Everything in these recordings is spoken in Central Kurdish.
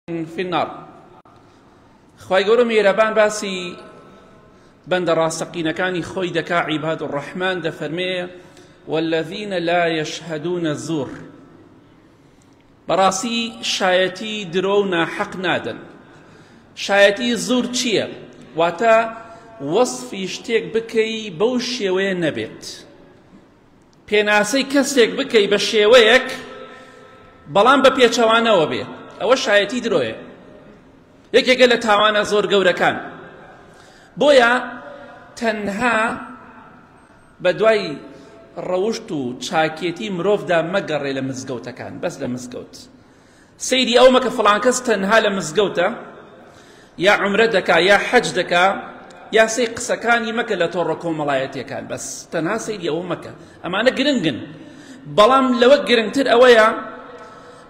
فی النار خوای گەورە میرەبان باسی بەندە ڕاستەقینەکانی خۆی دەکا عیباد و ڕەحمان دەفەرمێ والذین لا یشهدون الزور بەڕاستی شایەتی درۆ و ناحەق نادەن شایەتی زور چییە واتە وەصفی شتێک بکەی بەو شێوەیە نەبێت پێناسەی کەسێک بکەی بە شێوەیەک بەڵام بە پێچەوانەوە بێ ئەوە شایەتی درۆیە یەکێکە لە تاوانە زۆر گەورەکان بۆیە تەنها بە دوای ڕەوشت و چاکێتی مرۆڤدا مەگەڕێ لە مزگەوتەکان بەس لە مزگەوت سەیری ئەوە مەکە فڵان کەس تەنها لە مزگەوتە یا عومرە دەکا یا حەج دەکا یا سەی قسەکانی مەکە لە تۆڕە کۆمەڵایەتیەکان بەس تەنها سەیری ئەوە مەکە ئەمانە گرنگن بەڵام لەوە گرنگتر ئەوەیە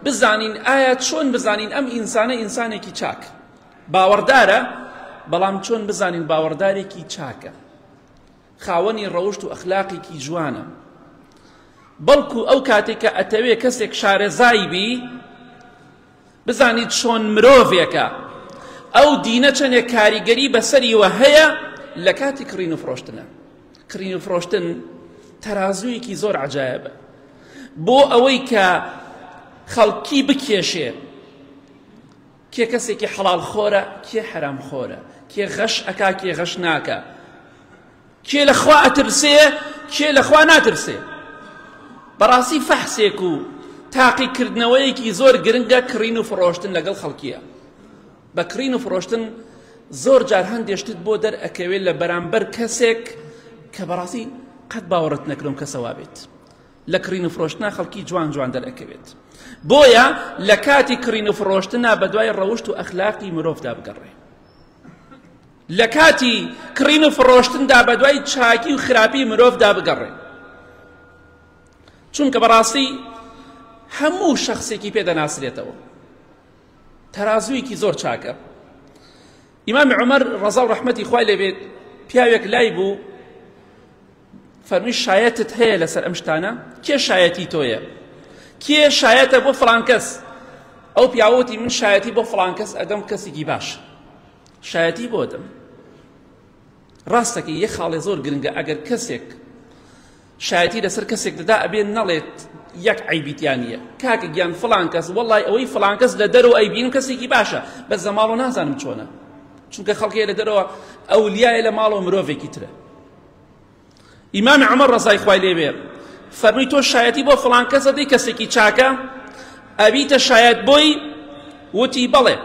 بزانین ئایا چۆن بزانین ئەم ئینسانە ئینسانێکی چاک باوەڕدارە بەڵام چۆن بزانین باوەڕدارێکی چاکە خاوەنی ڕەوشت و ئەخلاقێکی جوانە بەڵکو ئەو کاتێک کە ئەتەوێ کەسێک شارەزای بی بزانیت چۆن مرۆڤێکە ئەو دینە چەندێک کاریگەری بەسەریوە هەیە لە کاتی کڕین و فرۆشتنە کڕین و فرۆشتن تەرازوویەکی زۆر عجایبە بۆ ئەوەی کە خەڵکی بکێشێ کێ کەسێکی حەڵاڵ خۆرە کێ حەرام خۆرە کێ غەش ئەکا کێ غەش ناکە کێ لە خوا ئەترسێ کێ لە خوا ناترسێ بەڕاستی فەحسێک و تاقیکردنەوەیەکی زۆر گرنگە کڕین و فڕۆشتن لەگەڵ خەڵکیە بە کڕین و فڕۆشتن زۆر جار هەندێشتت بۆ دەرئەکەوێت لە بەرامبەر کەسێک کە بەڕاستی قەت باوەڕت نەکرم کەسەوا بێت لە کڕین و فرۆشتنا خەڵکی جوان جوان دەرئەکەوێت بۆیە لە کاتی کڕین و فرۆشتنا بەدوای ڕەوشت و ئەخلاقی مرۆڤدا بگەڕێ لە کاتی کڕین و فرۆشتندا بەدوای چاکی و خراپی مرۆڤدا بگەڕێ چونکە بەڕاستی هەموو شخصێکی پێ دەناسرێتەوە تەرازوویەکی زۆر چاکە ئیمامی عمر ڕەزا و ڕەحمەتی خوای لێبێت پیاوێک لای بوو فەرمی شایەتت هەیە لەسەر ئەم شتانە کێ شایەتی تۆیە کێ شایەتە بۆ فلانکەس ئەو پیاوەتی من شایەتی بۆ فلانکەس ئەدەم کەسێکی باش شایەتی بۆ دەم ڕاستەکە یە خاڵێ زۆر گرنگە ئەگەر کەسێک شایەتی لەسەر کەسێک دەدا ئەبێن نەڵێت یەک عیبیتیانە کاکە گیان فلان کەس وڵی ئەوەی فلان کەس لە دەرەوە ئەیبین کەسێکی باشە بە زەماڵۆ نازانم چۆنە چونکە خەڵکی لە دەرەوە ئەو لیایە لە ماڵەوە مرۆڤێکی ترە ئیمامی عمر ڕزای خوای لێبێ فەرمی تۆ شایەتی بۆ فڵان کەسە دەی کەسێکی چاکە ئەبیتە شایەت بۆی وتی بەڵێ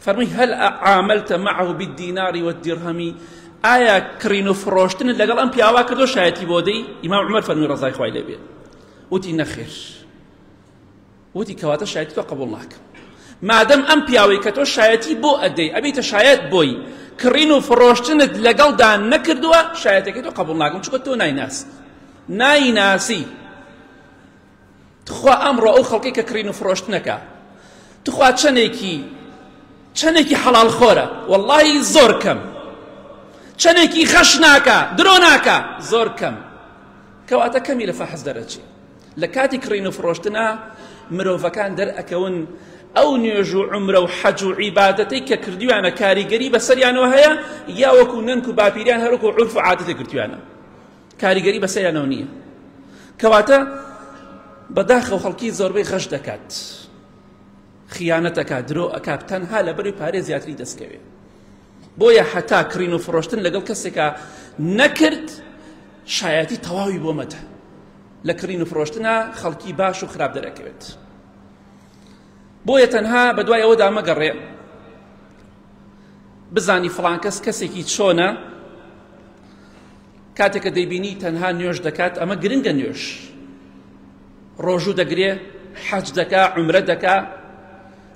فەرمی هەل عاملتە معه بالدیناری والدرهمی ئایا کڕین و فڕۆشتن لەگەڵ ئەم پیاوا کردو شایەتی بۆ دەی ئیمام عمر فەرمی ڕزای خوای لێبێ وتی نەخێر وتی کەواتە شایەتی تۆ قبوڵ ناکەم مادەم ئەم پیاوەی کە تۆ شایەتی بۆ ئەدەی ئەبیتە شایەت بۆی کڕین و فڕۆشتنت لەگەڵدا نەکردووە شایەتەکەی تۆ قبول ناکەم چکە تۆ نایناسی نایناسی تخوا ئەمڕۆ ئەو خەڵکی کە کڕین و فڕۆشتنەکە تخوا چەندێکی چەندێکی حەڵال خۆرە واللهی زۆر کەم چەندێکی خەش ناکە درۆ ناکە زۆر کەم کەواتە کەمی لە فەحز دەرەچی لە کاتی کڕین و فڕۆشتنا مرۆڤەکان دەرئەکەون ئەو نوێژ و عمرە و حەج و عیبادەتەی کە کردویانە کاریگەری بەسەریانەوە هەیە یا وەکو نەنک و باپیریان هەروکو عرف و عادەتی کردویانە کاریگەری بەسەریانەوە نییە کەواتە بەداخە و خەڵکی زۆربەی غەش دەکات خیانەتەکە درۆ ئەکات تەنها لە بەری پارێ زیاتری دەستکەوێت بۆیە حتا کڕین و فڕۆشتن لەگەڵ کەسێکە نەکرد شایەتی تەواوی بۆ مەدە لە کڕین و فرۆشتنا خەڵکی باش و خراپ دەرەکەوێت بۆیە تەنها بە دوای ئەوەدا مەگەڕێ بزانی فڵان کەس کەسێکی چۆنە کاتێکە دەیبینی تەنها نوێش دەکات ئەمە گرنگە نوێش ڕۆژوو دەگرێ حەج دەکا عمرە دەکا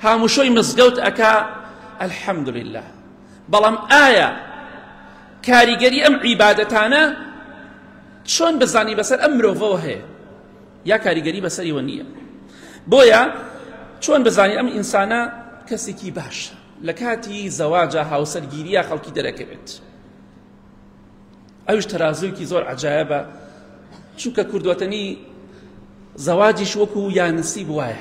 هاموشۆی مزگەوت ئەکا الحمد لله بەڵام ئایا کاریگەری ئەم عیبادەتانە چۆن بزانی بەسەر ئەم مرۆڤەوە هەیە یا کاریگەری بەسەریوە نییە بۆیە چۆن بزانی ئەم ئینسانە کەسێکی باشە لە کاتی زەواجە هاوسەرگیریە خەڵکی دەرەکەوێت ئەوش تەرازوویکی زۆر عجاایبە چونکە کوردوەتەنی زەواجیش وەکو یانسی بواە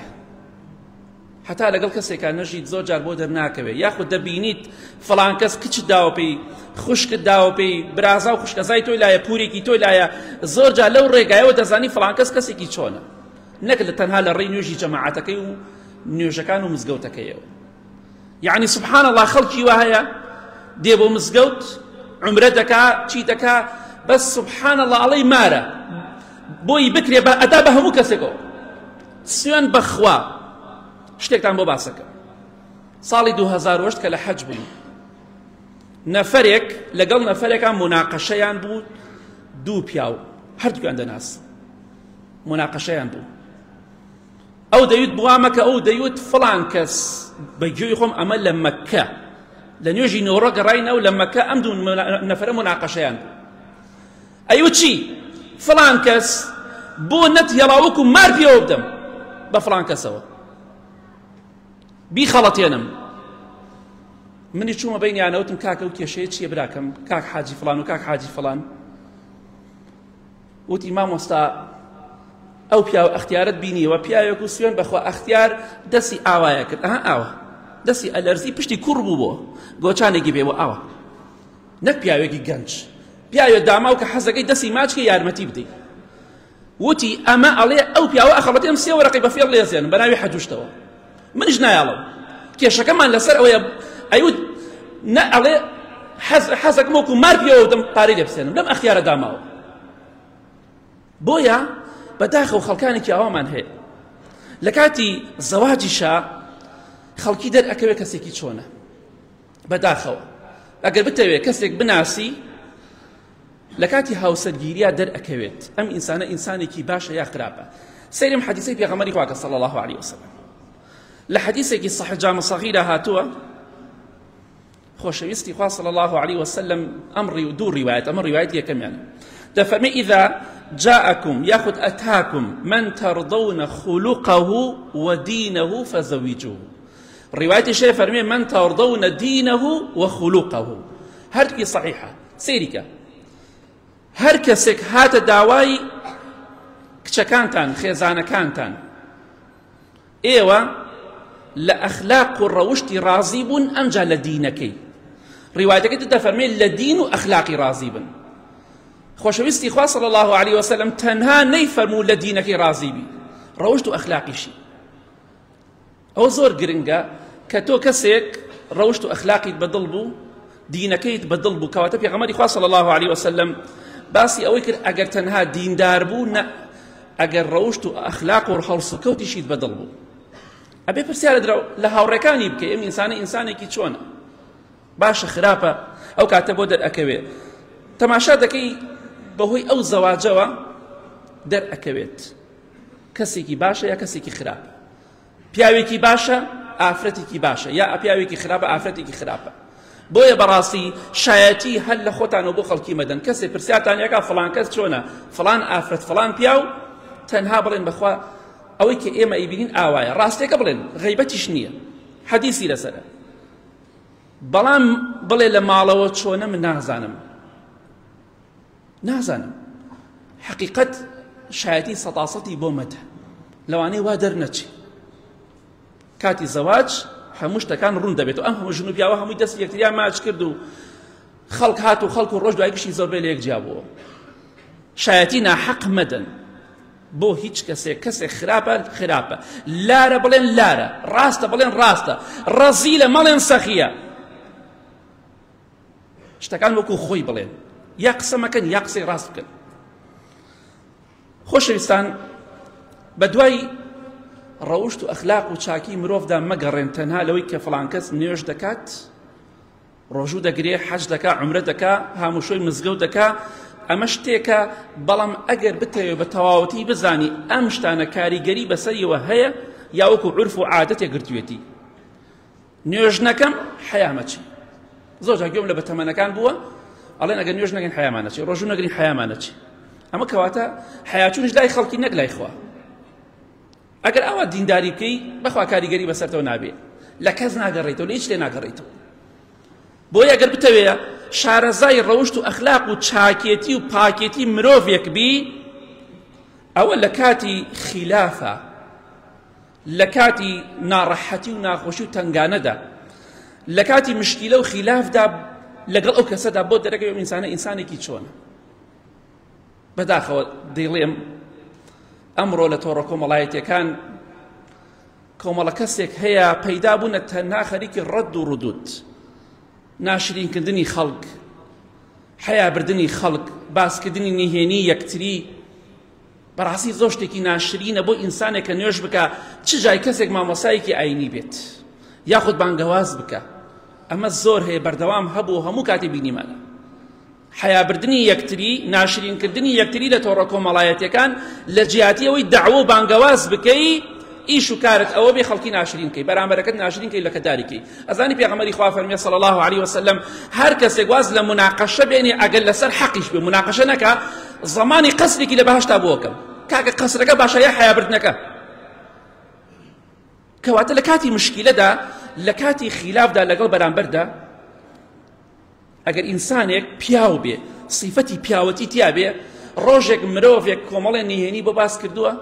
هەتا لەگەڵ کەسێکا نەژیت زۆر جار بۆ دەرناکەوێ یاخود دەبینیت فڵان کەس کچت داوە پێی خوشکت داوە پێی برازا و خوشکەزای تۆی لایە پورێکی تۆی لایە زۆر جار لەو ڕێگایەوە دەزانی فڵان کەس کەسێکی چۆنە نەک لە تەنها لە ڕێی نوێژی جەماعەتەکەی و نوێژەکان و مزگەوتەکەیەوە یعنی سبحان الله خەڵکی وا هەیە دێ بۆ مزگەوت عمرە دەکا چی دەکا بەس سبحان الله ئەڵەی مارە بۆی بکرێ بە ئەدا بە هەموو کەسێکەوە سوێن بەخوا شتێکتان بۆ باسەکە ساڵی دوو هەزار و هەشت کە لە حەج بووین نەفەرێک لەگەڵ نەفەرێکان مناقەشەیان بوو دوو پیاو هەردووکان دەناس مناقەشەیان بوو ئەو دەویت بوامەکە ئەو دەیوت فڵان کەس بە گوێی خۆم ئەمە لە مەککە لە نوێژی نۆڕە گەڕاینەوە لە مەکە ئەم دوو نەفرە مناقەشەیان بوو ئەی وچی فڵان کەس بۆ نەت هێڵا وەکو مار پێوە بدەم بە فڵان کەسەوە بیخەڵەتێنم منی چوومە بینیانەوتم کاکە و کێشەیە چییە براکەم کاک حاجی فلان و کاک حاجی فلان وتی مامۆستا ئەو پیاو ئەختیارت بینیەوە پیاوێک و سوێن بەخوا ئەختیار دەسی ئاوایە کرد ئەها ئاوە دەسی ئەلەرزی پشتی کوڕ بوو بۆ گۆچانێکی بێ بۆ ئاوە نەک پیاوێکی گەنج پیاوێ داماو کە حەزەکەی دەسی ماچکە یارمەتی بدەی وتی ئەمە ئەڵێ ئەو پیاوە ئەخەڵەتێم سێ وەرەقی بەفێڵ لێزێن بە ناوی حەجوشتەوە منیش نایاڵم کێشەکەمان لەسەر ئەوەیە ئەیوت نە ئەڵێ حەز حەزەکەم وەکو مار پیەوە دەم پارەی لێ بسێنم لەم ئەخیارە داماوە بۆیە بەداخە و خەڵکانێکی ئاوامان هەیە لە کاتی زەواجیشە خەڵکی دەرئەکەوێت کەسێکی چۆنە بەداخەوە ئەگەر بتەوێت کەسێک بناسی لە کاتی هاوسەرگیریا دەرئەکەوێت ئەم ئینسانە ئینسانێکی باشە یا خراپە سەیرم حەدیسەی پێغەمەری خواکە صلی الله عليه وسلم لە حەدیسێکی صحیح جامع صغیرە هاتووە خۆشەویستی خوا صلی الله عليه وسلم ئەم ڕیو دوو ڕیوایەت ئەمە ڕیوایەت یەکەمیان دەفەرمی ئیدا جاءكم ياخد أتاكم من ترضون خلقه ودينه فزوجوه ڕیوایەتی شێ فەرمێ من تەڕدەونە دینەه و خولوقەه هەردووکی صحیحە سێریکە هەر کەسێک هاتە داوای کچەکانتان خێزانەکانتان ئێوە لە ئەخلاق و ڕەوشتی ڕازی بوون ئەمجا لە دینەکەی ڕیواتەکەی تدا فەرمێ لە دین و ئەخلاقی ڕازی بن خۆشەویستی خوا صلی الله عليه وسلم تەنها نەیفەرموو لە دینەکەی ڕازی بی ڕەوشت و ئەخلاقیشی ئەوە زۆر گرنگە کە تۆ کەسێک ڕەوشت و ئەخلاقیت بە دڵ بوو دینەکەیت بە دڵ بوو کەواتە پێغەمبەری خوا صلی الله علیه وسلم باسی ئەوەی کرد ئەگەر تەنها دیندار بوو نە ئەگەر ڕەوشت و ئەخلاق و هەڵسوکەوتیشیت بە دڵ بوو ئەبێ پرسیارە درا لە هاوڕێکانی بکە ئەم ئینسانە ئینسانێکی چۆنە باشە خراپە ئەو کاتە بۆ دەرئەکەوێ تەماشا دەکەی بەهۆی ئەو زەواجەوە دەرئەکەوێت کەسێکی باشە یا کەسێکی خراپە پیاوێکی باشە ئافرەتێکی باشە یا پیاوێکی خراپە ئافرەتێکی خراپە بۆیە بەڕاستی شایەتی هەر لە خۆتانەوە بۆ خەڵکی مەدەن کەسێک پرسیارتان یەکە فلان کەس چۆنە فلان ئافرەت فلان پیاو تەنها بڵێن بەخوا ئەوەی کە ئێمە ئیبینین ئاوایە ڕاستێکە بڵێن غیبەتیش نییە حەدیسی لەسەرە بەڵام بڵێ لە ماڵەوە چۆنە من نازانم نازانم حقیقەت شایەتی سەتاسەتی بۆ مەدە لەوانەیە وا دەرنەچێ کاتی زەواج هەموو شتەکان ڕوون دەبێت و ئەم هەموو ژن و پیاوە هەمووی دەست یەکتریان ماچ کرد و خەڵک هات و خەڵک و ڕۆژ دوای گشتی زۆربەی لە یەک جیابووە شایەتی ناحەق مەدەن بۆ هیچ کەسێک کەسێک خراپە خراپە لارە بڵێن لارە ڕاستە بڵێن ڕاستە ڕەزی لە مەڵێن سەخیە شتەکان وەکو خۆی بڵێن یا قسە مەکەن یا قسەی ڕاست بکەن خۆشەویستان بە دوای ڕەوشت و ئەخلاق و چاکی مرۆڤدا مەگەڕێن تەنها لەوەی کە فلان کەس نوێژ دەکات ڕۆژوو دەگرێ حەج دەکا عمرە دەکا هاموشۆی مزگەوت دەکا ئەمە شتێکە بەڵام ئەگەر بتەوێت بە تەواوەتی بزانی ئەم شتانە کاریگەری بەسەریەوە هەیە یاوەکو عرف و عادەتێک گرتوێتی نوێژ نەکەم حەیامەچی زۆر جا گوێم لە بەتەمەنەکان بووە ئەڵێن ئەگەر نوێژ نەگەن حەیامانەچی ڕۆژوو نەگرین حەیامانەچی ئەمە کەواتە حەیاچونش لای خەڵکی نەک لای خوا ئەگەر ئەوە دینداری بکەی بەخوا کاریگەری بەسەرەوە نابێ لە کەس ناگەڕێتەوە لە هیچ لێ ناگەڕێتەوە بۆی ئەگەر بتەوێ شارەزای ڕەوشت و ئەخلاق و چاکێتی و پاکێتی مرۆڤێک بی ئەوە لە کاتی خلافە لە کاتی ناڕەحەتی و ناخۆشی و تەنگانەدا لە کاتی مشکیلە و خیلافدا لەگەڵ ئەو کەسەدا بۆ دەرەکەی ئەو ئینسانە ئینسانێکی چۆنە بەداخەوە دەیڵێم ئەمڕۆ لە تۆڕە کۆمەڵایەتەکان کۆمەڵە کەسێک هەیە پەیدا بوونە تەنها خەریکی ڕەد و ڕدود ناشرینکردنی خەڵک حیابردنی خەڵک باسکردنی نهێنی یەکتری بەڕاستی زۆر شتێکی ناشرینە بۆ ئینسانێک کە نوێژ بکە چ جای کەسێک مامۆسایەکی ئاینی بێت یاخود بانگەواز بکە ئەمە زۆر هەیە بەردەوام هەبوو هەموو کاتی بینیمانە حیابردنی یەکتری ناشرینکردنی یەکتری لە تۆڕە کۆمەڵایەتەکان لە جیاتی ئەوەی داوە و بانگەواز بکەی ئیش و کارت ئەوە بێ خەڵکی ناشرینکەی بەرامبەرەکەت ناشرینکەی لە کەداریکەی ئەزانی پێغەمبەری خوا فەرمی صلی الله علیه وسلم هەر کەسێک واز لە مناقەشە بێنێ ئەگەر لەسەر حەقیش بێ مناقەشە نەکا زمانی قەسرێکی لە بەهشتا بۆکەم کاکە قەسرەکە باشە یا حیابردنەکە کەواتە لە کاتی مشکیلەدا لە کاتی خیلافدا لەگەڵ بەرامبەردا ئەگەر ئینسانێک پیاو بێ سیفەتی پیاوەتی تیا بێ ڕۆژێک مرۆڤێک کۆمەڵێ نهێنی بۆ باس کردووە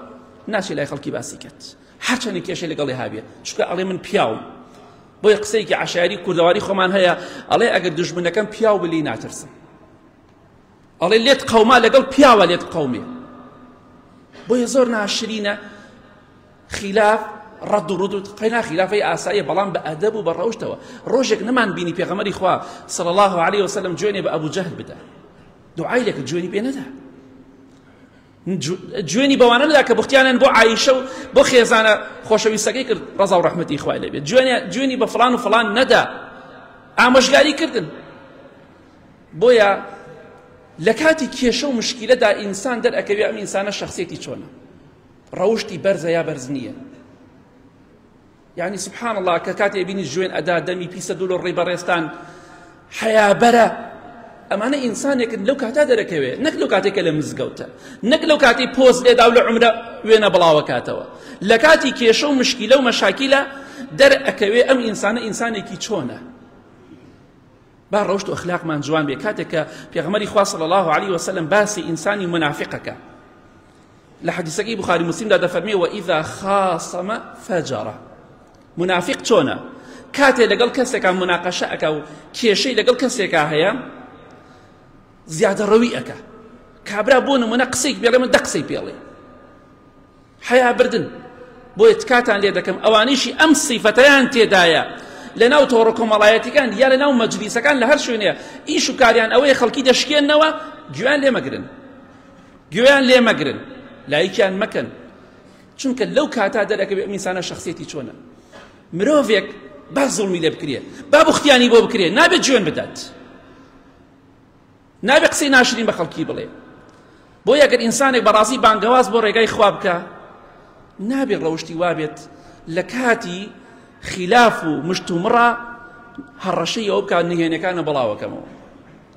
ناچێت لای خەڵکی باسی کرد هەرچەندی کێشە لەگەڵی هاابێت چکە ئەڵێ من پیاوم بۆی قسەیەکی عشاری کوردەواری خۆمان هەیە ئەڵێ ئەگەر دژمنەکەم پیاو بلی ناترسم ئەڵێ لێت قەوما لەگەڵ پیاوە لێت قەومێ بۆیە زۆر ناشرینە خیلاف ڕەد و ڕدوت قەینا خیلافەی ئاساییە بەڵام بە ئەدەب و بە ڕەوشتەوە ڕۆژێک نەمان بینی پێغەمەری خوا صلی الله علیه وسلم جوێنێ بە ئەبو جەهل بدا دوعای لەکە جوێنی پێ نەدا جوێنی بەوانە نەدا کە بختیانیان بۆ عیشە و بۆ خێزانە خۆشەویستەکەی کرد ڕزا و ڕحمەتی خوای لەبێت جوێنی بە فلان و فلان نەدا ئامۆژگاری کردن بۆیە لە کاتی کێشە و مشکیلەدا ئینسان دەرئەکەوێ ئەم ئینسانە شخصێتی چۆنە ڕەوشتی بەرزە یا بەرز نییە یعنی سبحان الله کە کاتێ بینی جوێن ئەدا دەمی پیسە دوو لە ڕێی بەڕێستان حەیابەرە ئەمانە ئینسانێکن لەو کاتا دەرەکەوێت نەک لەو کاتێکە لە مزگەوتە نەک لەو کاتی پۆز لێدا و لە عمرە وێنە بڵاوەکاتەوە لە کاتی کێشە و مشکیلە و مەشاکیلە دەرئەکەوێ ئەم ئینسانە ئینسانێکی چۆنە با ڕەوشت و ئەخلاقمان جوان بێ کاتێکە پێغمەری خوا صلی الله عليه وسلم باسی ئینسانی منافقەکە لە حەدیسەکەی بخاری مسلمدا دەفەرمێ و ئیذا خاصمە فەجەڕە منافق چۆنە کاتێ لەگەڵ کەسێکا مناقەشە ئەکا و کێشەی لەگەڵ کەسێکا هەیە زیادە ڕەوی ئەکا کابرا بۆ نمونە قسەی بێڵێ من دە قسەی پێڵێ حیا بردن بۆیە تکاتان لێ دەکەم ئەوانیشی ئەم سیفەتیان تێدایە لە ناو تۆڕە کۆمەڵایەتیکان یا لە ناو مەجلیسەکان لە هەر شوێنێ ئیش و کاریان ئەوەیە خەڵکی دەشکێنەوە گویان لێمەگرن گوێیان لێ مەگرن لایکیان مەکەن چونکە لەو کاتا دەرەکەوێت ئەم ئینسانە شخصیەتی چۆنە مرۆڤێک با زوڵمی لێ بکرێت با بوختیانی بۆ بکرێت نابێت جوێن بدات نابێ قسەی ناشرین بە خەڵکی بڵێ بۆ یەگەر ئینسانێک بەڕازی بانگەواز بۆ ڕێگای خوا بکە نابێ ڕەوشتی وابێت لە کاتی خلاف و مشتومڕە هەڕەشەی ئەو بکات نهێنەکانە بەڵاوەکەمەوە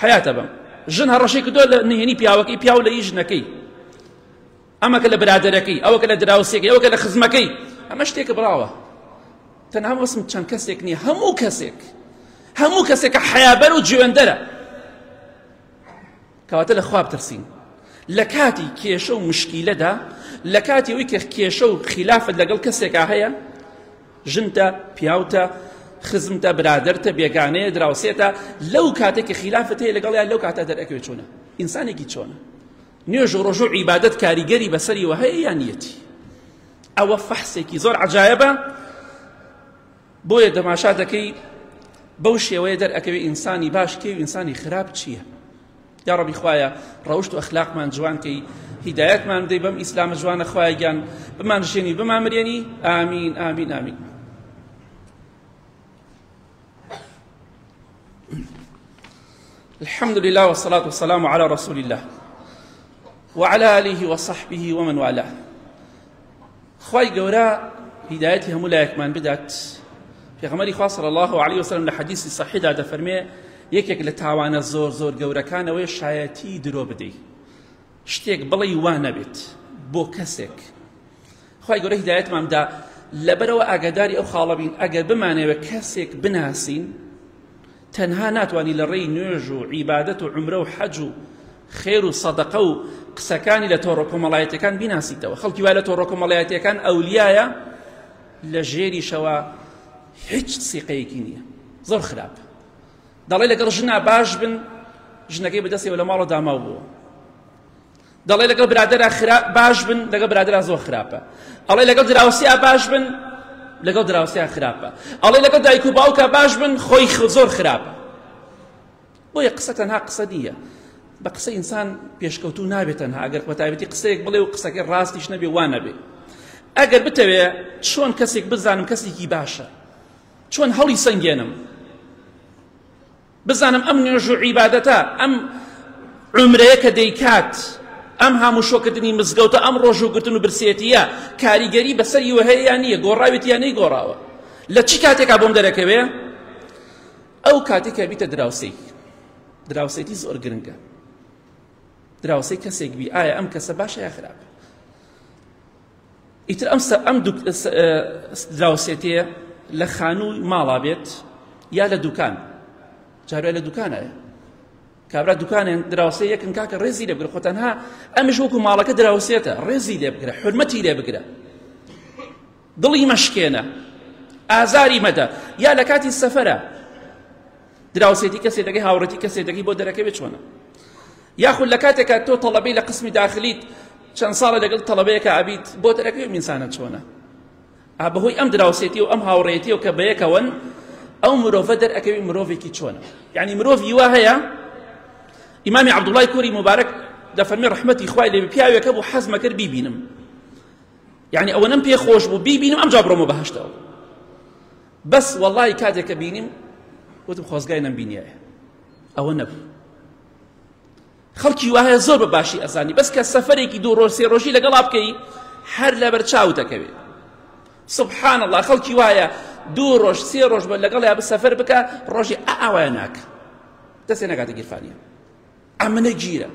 حەیاتە بەم ژن هەڕەشەی کردووە لە نهێنی پیاوەکەی پیاو لە هی ژنەکەی ئەمە کە لە برادەرەکەی ئەوە کە لە دراوسێکی ئەوە کە لە خزمەکەی ئەمە شتێکە بڕاوە تەنها وەسم چەند کەسێک نییە هەموو کەسێک هەموو کەسێکە حەیابەر و جوێندەرە کەواتە لە خواب ترسین لە کاتی کێشە و مشکیلەدا لە کاتی ئەوی کە کێشە و خلافت لەگەڵ کەسێکا هەیە ژنتە، پیاوتە، خزمتە، برادەرتە، بێگانەیە، دراوسێتە، لەو کاتێک کە خیلافت هەیە لەگەڵیان لەو کاتە دەرئەکەوێت چۆنە ئینسانێکی چۆنە نوێژ و ڕۆژە و عیبادەت کاریگەری بەسەری وە هەیە یان یەتی ئەوە فەحسێکی زۆر عجایبە بۆیە دەماشا دەکەی بەو شێوەیە دەرئەکەوێت ئینسانی باش کێ و ئینسانی خراپ چییە یاڕەبی خوایە ڕەوشت و ئەخلاقمان جوان کەی هیدایەتمان بدەی بەم ئیسلامە جوانە خوایە گیان بمان ژێنی بمان مرێنی ئامین ئامین ئامین الحمد لله والصلاة والسلام على رسول الله وعلى آله وصحبه ومن والاه خوای گەورە هیدایەتی هەموو لایەکمان بدات پێغەمەری خوا صلی الله علیه وسلم لە حەدیثی صحیحدا دەفەرمێ یەکێک لە تاوانە زۆر زۆر گەورەکانەوەی شایەتی درۆ بدەی شتێک بڵی وا نەبێت بۆ کەسێک خی گەورە هیدایەتمامدا لەبەرەوە ئاگاداری ئەو خاڵەبین ئەگەر بمانەوە کەسێک بناسین تەنها ناتوانی لە ڕێی نوێژ و عیبادەت و عومرە و حەج و خێر و سەدەقە و قسەکانی لە تۆڕە کۆمەڵایەتیەکان بیناسیتەوە خەڵکی وای لە تۆڕە کۆمەڵایەتیەکان ئەولیایە لە ژێریشەوە هیچ سیقەیەکی نییە زۆر خراپ دەڵێ لەگەڵ ژنا باش بن ژنەکەی بەدەستەوە لە ماڵە داماو بووە دەڵێ لەگەڵ برادەرا خرا باش بن لەگەڵ برادەرا زۆر خراپە ئەڵێ لەگەڵ دراوسیا باش بن لەگەڵ دراوسیا خراپە ئەڵێ لەگەڵ دایک و باوکە باش بن خۆی زۆر خراپە بۆیە قسە تەنها قسە دیە بە قسە ئینسان پێشکەوتو نابێت تەنها ئەگەر بەتابەتی قسەیەک بڵێ و قسەکە ڕاستیش نەبێ وا نەبێ ئەگەر بتەوێ چۆن کەسێک بزانم کەسێکی باشە چۆن هەڵی سنگێنم بزانم ئەم نوێژ و عیبادەتە ئەم عمرەیە کە دەیکات ئەم هەموو شۆکردنی مزگەوتە ئەم ڕۆژوگرتن و برسێتیە کاریگەری بەسەر یوهەیە نییە گۆڕاوێت یانەی گۆڕاوە لە چی کاتێکا بۆم دەرەکەوێ ئەو کاتێکە بیتە دراوسی دراوسێتی زۆر گرنگە دراوسی کەسێک بی ئایا ئەم کەسە باشە یا خراپە ئیتر ئەم سە ئەم دوک سە دراوسێتەیە لە خانووی ماڵا بێت یا لە دوکان جارای لە دوکانایە کابرا دوکانێن دراوسێ یەکن کاکە ڕێزی لێ بگرە خۆ تەنها ئەمش وەکو ماڵەکە دراوسێتە ڕێزی لێ بگرە حرمەتی لێ بگرە دڵی مەشکێنە ئازاری مەدە یا لە کاتی سەفەرە دراوسێتی کەسێ دەکەی هاوڕێتی کەسێ دەکەی بۆ دەرەکەوێت چۆنە یاخود لە کاتێکا تۆ تەڵەبەی لە قسمی داخلیت چەند ساڵە لەگەڵ تەڵەبەیەکە ئابیت بۆ دەرەکەوێت میسانە چۆنە بەهۆی ئەم دراوسێتی و ئەم هاوڕێتی و کە بەیەکەوەن ئەو مرۆڤە دەرەکەوی مرۆڤێکی چۆنە یعنی مرۆڤی وا هەیە ئیمامی عبدوڵای کوری مبارەک لە فەرمی ڕحمەتی خوای لێ پیاوێکە بوو حەزمە کرد بیبینم یعنی ئەوەنەم پێ خۆش بوو بیبینم ئەم جا بڕۆمە بەهشتەوە بەس وەڵاهی کاتێک کە بینیم وتم خۆزگای نەمبینیایە ئەوە نەبوو خەڵکی وایە زۆر بە باشی ئەزانی بەس کە سەفەرێکی دوو ڕۆژ سێ ڕۆژی لەگەڵا بکەی هەر لەبەر چاو دەکەوێ سبحان الله خەڵکی وایە دوو ڕۆژ سێ ڕۆژ بە لەگەڵ یا بسەفەر بکە ڕۆژی ئاوایە ناکە دەستێ نەکاتە گیرفانیە ئەمنە گیرە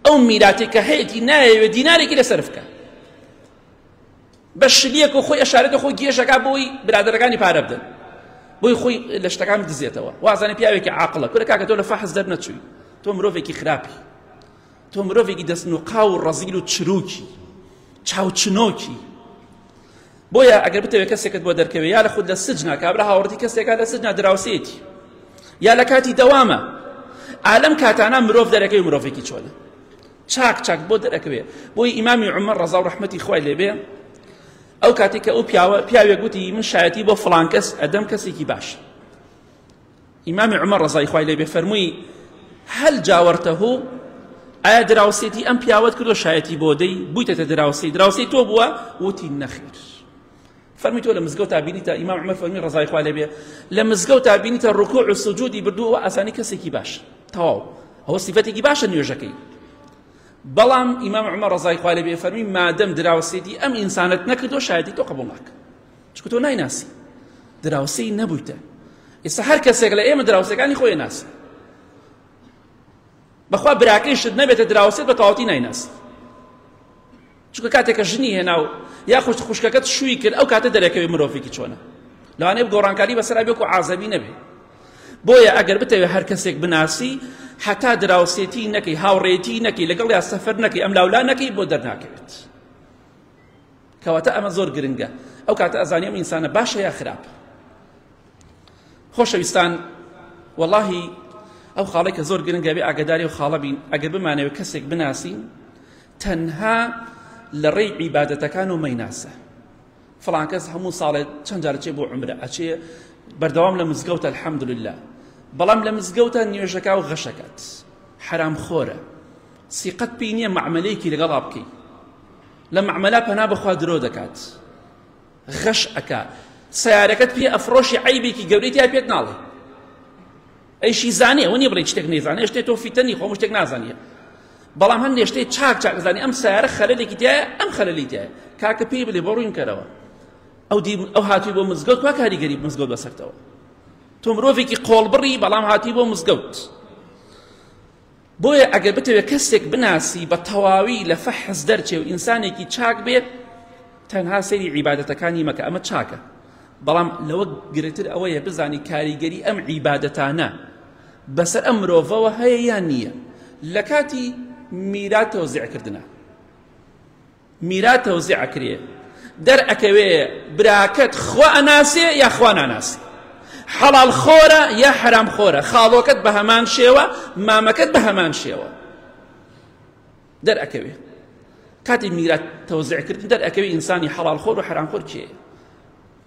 ئەو میراتی کە هەیەی نایەوێ دینارێکی لەسەر بکە بە شلیەک و خۆی ئەشارێتە خۆ گێژەکە بۆی برادەرەکانی پارە بدەن بۆی خۆی لە شتەکان بدزێتەوە وازانە پیاوێکی عاقڵە کورە کاکە تۆ لە فەحز دەرنەچووی تۆ مرۆڤێکی خراپی تۆ مرۆڤێکی دەست و قاو و ڕەزیل و چروکی چاوچنۆکی بۆیە ئەگەر بتەوێت کەسێکت بۆ دەرکەوێت یا لە خود لە سجنا کابرا هاوڕەتی کەسێکە لە سجنا دراوسێتی یا لە کاتی دەوامە ئالم کاتانە مرۆڤ دەرەکەی مرۆڤێکی چۆنە چاک چاک بۆ دەرەکەوێ بۆی ئیمامی عمر ڕەزا و ڕەحمەتی خوای لێبێ ئەو کاتی کە ئەو پیاوە پیاوێک گوتی من شایەتی بۆ فلان کەس ئەدەم کەسێکی باش ئیمامی عمر ڕەزای خوای لێبێ فەرمووی هەل جاوەرتەه ئایا دراوسێتی ئەم پیاوەت کردو شایەتی بۆ دەی بوویتەتە دراوسێ دراوسێی تۆ بووە وتی نەخیر فەرمی تۆ لە مزگەوتا بینیتە ئیمام عمر فەرمی ڕزای خوا لێبێ لە مزگەوتا بینیتە ڕکوع و سجودی بردووە و ئاسانی کەسێکی باش تەواو ئەوە سیفەتێکی باشە نوێژەکەی بەڵام ئیمام عمر ڕزای خوا لێبێ فەرمی مادەم دراوسێتی ئەم ئینسانت نەکردو شایەتی تۆ قبول ناکە چکە تۆ نایناسی دراوسێی نەبوویتە ئێستا هەر کەسێک لە ئێمە دراوسەکانی خۆی ناسی بەخوا براکەیشت نەبێتە دراوسێت بە تەواوەتی نایناسی چونکە کاتێک کە ژنی هێنا و یاخود خوشکەکەت شووی کرد ئەو کاتە دەرەکەوێ مرۆڤێکی چۆنە لەوانەیە گۆڕانکاری بەسەرا بێ و عازەبی نەبێ بۆیە ئەگەر بتەوێت هەر کەسێک بناسی حتا دراوسێتی نەکەی هاوڕێتی نەکەی لەگەڵ یا سەفەر نەکەی ئەم لاولا نەکەی بۆ دەرناکەوێت کەواتە ئەمە زۆر گرنگە ئەو کاتە ئەزانانی ئەم ئینسانە باشە یا خراپ خۆشەویستان واللهی ئەو خاڵێکە زۆر گرنگە بێ ئاگداری و خاڵە بین ئەگەر بمانەوە کەسێک بناسین تەنها لە ڕێی عیبادەتەکان و مەیناسە فڵان کەس هەموو ساڵێ چەند جار چێ بۆ عمرە ئەچێ بەردەوام لە مزگەوتە الحەمدلله بەڵام لە مزگەوتە نوێژەکە و غەشەکەت حرام خۆرە سیقەت پێی نییە معملەیەکی لەگەڵا بکەی لە معمەلا پەنا بەخوا درۆ دەکات غەش ئەکا سیارەکەت پێ ئەفرۆشی عیبێکی گەورەی تیا پێت ناڵێ ئەیشی زانێ ئەوە نیە بڵێی شتێک نەیزانێ شتێ تۆ فیتە نی خۆ هەموو شتێک نازانیە بەڵام هەندێ شتێ چاک چاک زانی ئەم سیارە خەلەلێکی تایە ئەم خەلەلی تایە کاکە پێی بلێ بۆ ڕووین کەرەوە ئەو دی ئەو هاتووی بۆ مزگەوت وا کاریگەری مزگەوت بەسەرتەوە تۆ مرۆڤێکی قۆڵبڕی بەڵام هاتی بۆ مزگەوت بۆیە ئەگەر بتەوێت کەسێک بناسی بە تەواوی لە فەحز دەرچێ و ئینسانێکی چاک بێت تەنها سەیری عیبادەتەکانی مەکە ئەمە چاکە بەڵام لەوە گرتر ئەوەیە بزانی کاریگەری ئەم عیبادەتانە بەسەر ئەم مرۆڤەوە هەیە یان نییە لە کاتی میرات تەوزیعکردنە میرات تەوزیع ئەکرێ دەر ئەکەوێ براکەت خوا ئەناسێ یا خوا ناناسێ حەڵال خۆرە یا حەرام خۆرە خاڵۆکەت بە هەمان شێوە مامەکەت بە هەمان شێوە دەر ئەکەوێ کاتی میرات تەوزیع کردن دەر ئەکەوێ ئینسانی حەڵال خۆر و حەرام خۆر کێ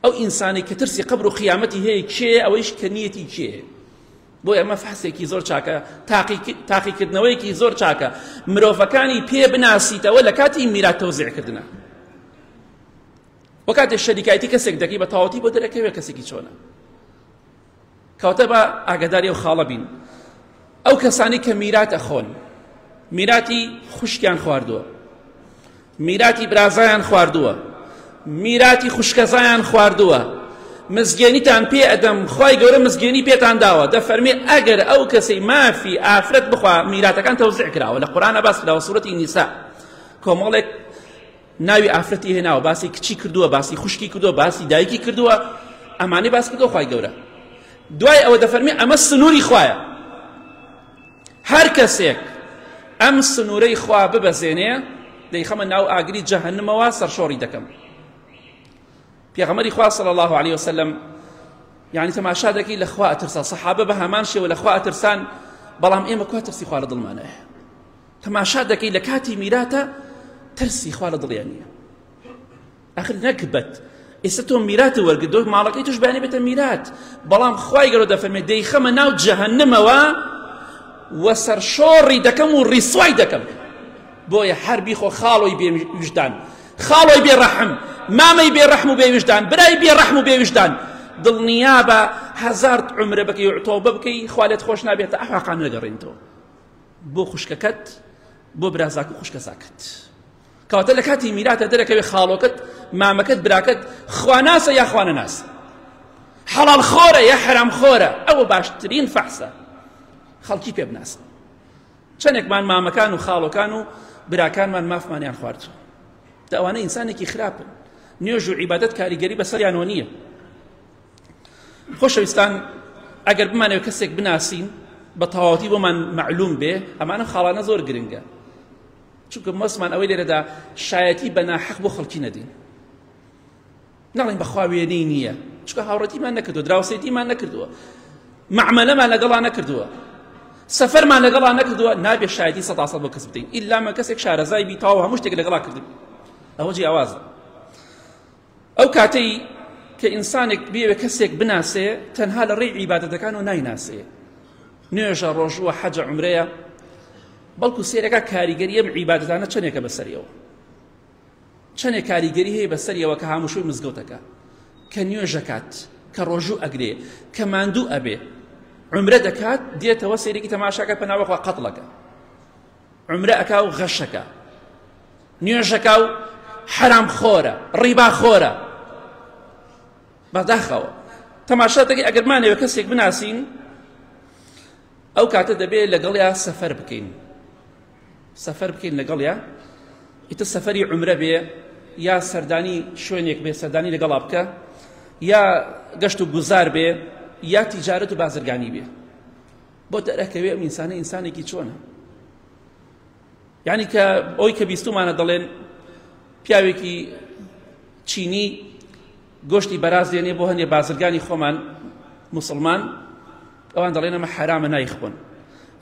ئەو ئینسانەی کە ترسی قبر و قیامەتی هەیە کێیە ئەوەیش کە نیەتی کێیە بۆ ئەمە فحسێکی زۆر چاکە تاقیکردنەوەیەکی زۆر چاکە مرۆڤەکانی پێ بناسیتەوە لە کاتی میرات تەوزیعکردنە وە کاتێ شەریکایەتی کەسێک دەکەی بە تاوەتی بۆ دەرەکەوێ کەسێکی چۆنە کەواتە با ئاگاداری ئەو خاڵە بین ئەو کەسانی کە میرات ئەخۆن میراتی خوشکیان خواردووە میراتی برازایان خواردووە میراتی خوشکەزایان خواردووە مزگێنیتان پێ ئەدەم خی گەورە مزگێنی پێتان داوە دەفەرمێ ئەگەر ئەو کەسەی مافی ئافرەت بخوا میراتەکان تەوزع کراوە لە قورآە باس کراوە سوورەتی نیسا کۆمەڵێک ناوی ئافرەتی هێناوە باسی کچی کردووە باسی خوشکی کردووە باسی دایکی کردووە ئەمانەی باس کردو خی گەورە دوای ئەوە دەفەرمی ئەمە سنووری خوایە هەر کەسێک ئەم سنوورەی خوا ببەزێنێ دەیخەمە ناو ئاگری جەهنمەوە سەرشۆڕی دەکەم پێغەمەری خوا صلی الله عليه وسلم یعنی تەماشا دەکەی لە خوا ئەترسا سەحابە بە هەمان شێوە لە خوا ئەترسان بەڵام ئێمە کوا ترسی خوا لە دڵمانەیە تەماشا دەکەی لە کاتی میراتە ترسی خوا لە دڵیان نییە ئەخر نەکبەت ئێستا تۆ میرات وەرگدۆک ماڵەکەی توش بەیانی بێتە میرات بەڵام خوای گەرۆ دەفەرمێ دەیخەمە ناو جەهەنمەوە وە سەرشۆڕی دەکەم و ڕیسوای دەکەم بۆیە هەر بیخۆ خاڵۆی بێویژدان خاڵۆی بێڕەحم مامەی بێڕەحم و بێویژدان برای بێڕەحم و بێویژدان دڵنیابە هەزار عمرە بەکەی تۆبە بکەی خوالێت خۆش نابێتە ئەحقان نەگەڕێنەوە بۆ خوشکەکەت بۆ برازاک و خوشکە زاکەت کەواتە لە کاتی میراتە دەرەکەوێ خاڵۆکەت مامەکەت براکەت خواناسە یا خوانە ناس حەڵال خۆرە یا حرام خۆرە ئەوە باشترین فەحسە خەڵکی پێ بناسن چەندێکمان مامەکان و خاڵۆکان و براکانمان مافمانیان خوارد داوانە ئینسانێکی خراپن نوێژ و عیبادەت کاریگەری بەسەریانەوە نییە خۆشەویستان ئەگەر بمانەوە کەسێک بناسین بە تەواوەتی بۆمان معلوم بێ ئەمانە خاڵانە زۆر گرنگە چونکە مەسمان ئەوەی لێرەدا شایەتی بە ناحەق بۆ خەڵکی نەدین ناڵین بەخوا وێنەی نییە چکە هاوڕەتیمان نەکردو دراوسێتیمان نەکردووە معمەلەمان لەگەڵا نەکردووە سەفەرمان لەگەڵا نەکردووە نابێ شایەتی سەداسە بۆ کەس بدەین ئیلامە کەسێک شارەزای بیتاو هەموو شتێک لەگەڵا کردن ئەوە جیاوازە ئەو کاتەی کە ئینسانێک بێوێ کەسێک بناسێ تەنها لە ڕێی عیبادەتەکانەوە نایناسێ نوێژە ڕۆژووە حەجە عمرەیە بەڵکو سێرەکە کاریگەریە عیبادەتانە چەندێکە بەسەریەوە چەندێک کاریگەری هەیە بەسەریەوە کە هاموشوی مزگەوتەکە کە نوێژەکات کە ڕۆژوو ئەگرێ کە ماندوو ئەبێ عمرە دەکات دێتەوە سێرێکی تەماشاکە پەناوەخوا قەتڵەکە عمرە ئەکا و غەشەکە نوێژەکە و حەرام خۆرە ڕیبا خۆرە بەداخەوە تەماشا دەکەی ئەگەر مانەوە کەسێک بناسین ئەو کاتە دەبێت لەگەڵیا سەفەر بکەین سەفەر بکەین لەگەڵیا ئیتە سەفەری عمرە بێ یا سەردانی شوێنێک بێ سەردانی لەگەڵا بکە یا گەشت و گوزار بێ یا تیجارەت و بازرگانی بێ بۆ دەرەکەوێ ئەم ئینسانە ئینسانێکی چۆنە یعنی کە ئەوی کە بیستمانە دەڵێن پیاوێکی چینی گۆشتی بەراز دێنێ بۆ هەندێ بازرگانی خۆمان مسلمان ئەوان دەڵێن ئەمە حرامە نایخۆن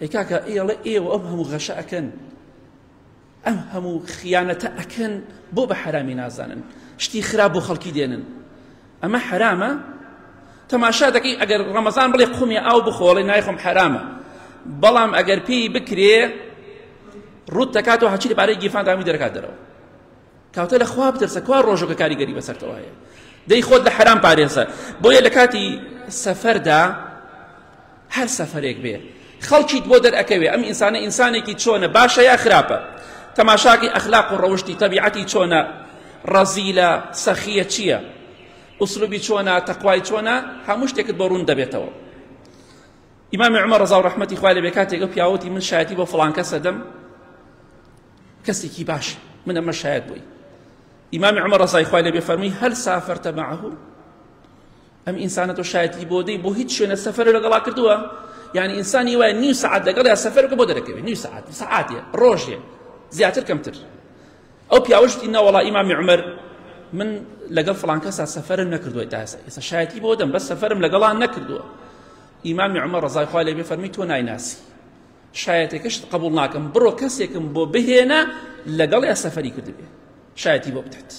ئەی کاکە ئێڵە ئێوە ئەم هەموو غەشە ئەکەن ئەم هەموو خیانەتە ئەکەن بۆ بە حەرامی نازانن شتی خراپ بۆ خەڵکی دێنن ئەمە حەرامە تەماشا دەکەی ئەگەر ڕەمەزان بڵێ قومی ئاو بخۆڵێ نایخۆم حەرامە بەڵام ئەگەر پێی بکرێ ڕوت دەکاتەوە هەچی لەبارەی گیرفان دامی دەرکات دەرەوە کەواتە لە خوا بترسە کوا ڕۆژو کە کاریگەری بەسەرتەوە هەیە دەی خۆت لە حەرام پارێزە بۆیە لە کاتی سەفەردا هەر سەفەرێک بێ خەڵکیت بۆ دەرئەکەوێ ئەم ئینسانە ئینسانێکی چۆنە باشە یا خراپە تەماشاکی ئەخلاق و ڕەوشتی تەبیعەتی چۆنە ڕەزیلە سەخیە چییە ئوسلوبی چۆنە تەقوای چۆنە هەموو شتێکت بۆ ڕوون دەبێتەوە ئیمامی عمر ڕزا و ڕحمەتی خوای لە بێکاتێکە پیاوەتی من شایەتی بۆ فڵانکە سەدەم کەسێکی باش من ئەمە شاید بووی ئیمامی عمر ڕزای خوای لەبێ فەرمی هەل سافرتە معه ئەم ئینسانە تۆ شایەتی بۆ دەی بۆ هیچ شوێنە سەفەر لەگەڵا کردووە یعنی ئینسانی وایە نیو سعات لەگەڵ یا سەفەر بۆ دەرەکەوێت نیو سعات سعاتێ ڕۆژێ زیاتر کەمتر ئەو پیاوەشتی ناوەڵا ئیمامی عمر من لەگەڵ فلان کەسا سەفەرم نەکردووە تا ئێستا شایەتی بۆ دەم بەس سەفەرم لەگەڵان نەکردووە ئیمامی عمر ڕزای خوای لەبێ فەرمی تۆ نایناسی شایەتەکەشت قبول ناکەم بڕۆ کەسێکم بۆ بهێنە لەگەڵ یا سەفەری کردبێ شایەتی بۆ بدات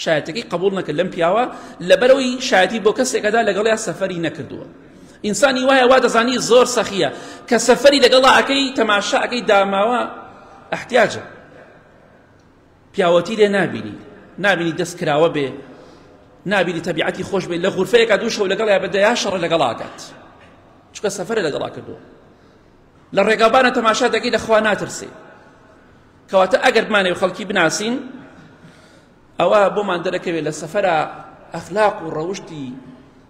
شایەتەکەی قبول نەکرد لەم پیاوە لەبەرەوەی شایەتی بۆ کەسێکەدا لەگەڵ یا سەفەری نەکردووە ئینسانی وایە وا دەزانی زۆر سەخیە کە سەفەری لەگەڵا ئەەکەی تەماشا ئەەکەی داماوە احتیاجە پیاوەتی لێ نابینی نابینی دەست کراوە بێ نابینی تەبیعەتی خۆش بێ لە غورفەیەکە دوو شەو لەگەڵ یا بە دەیا شەڕە لەگەڵاکات چکە سەفرە لەگەڵا کردووە لە ڕێگابانە تەماشا دەگەی لە خوا ناترسێ کەواتە ئەگەر بمانێ خەڵکی بناسین ئەوە بۆمان دەرەکەوێت لە سەفرە ئەخلاق و ڕەوشتی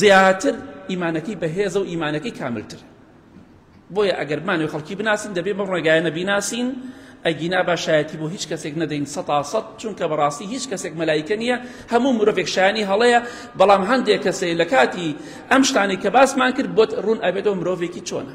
زیاتر ئیمانەکەی بەهێزە و ئیمانەکەی کاملتر بۆیە ئەگەر بمانەوە خەڵکی بناسین دەبێ بەم ڕێگایانە بیناسین ئەگینا باشایەتی بۆ هیچ کەسێک نەدەین سەتا سەد چونکە بەڕاستی هیچ کەسێک مەلایکە نییە هەموو مرۆڤێک شایانی هەڵەیە بەڵام هەندێک کەسێ لە کاتی ئەم شتانی کە باسمان کرد بۆت ڕوون ئەبێتەوە مرۆڤێکی چۆنە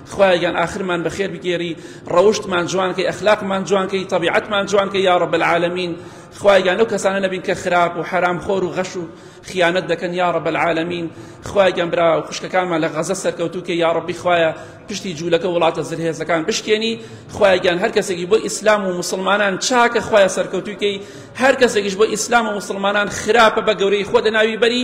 خوایە گیان ئاخرمان بەخێر بگێری ڕەوشتمان جوان کەی ئەخلاقمان جوان کەی تەبیعەتمان جوان کەی یا رب العالمین خوای گیان لەو کەسانە نەبین کە خراپ و حرام خۆر و غەش و خیانەت دەکەن یا رب العالمین خوای گیان برا و خوشکەکانمان لە غەزە سەرکەوتو کە یا ربی خوایە پشتی جوولەکە وڵاتە زلهێزەکان بشکێنی خوای گیان هەر کەسێکی بۆ ئیسلام و مسلمانان چاکە خوایە سەرکەوتوکەی هەر کەسێکیش بۆ ئیسلام و مسلمانان خراپە بە گەورەی خۆ دەناوی بەری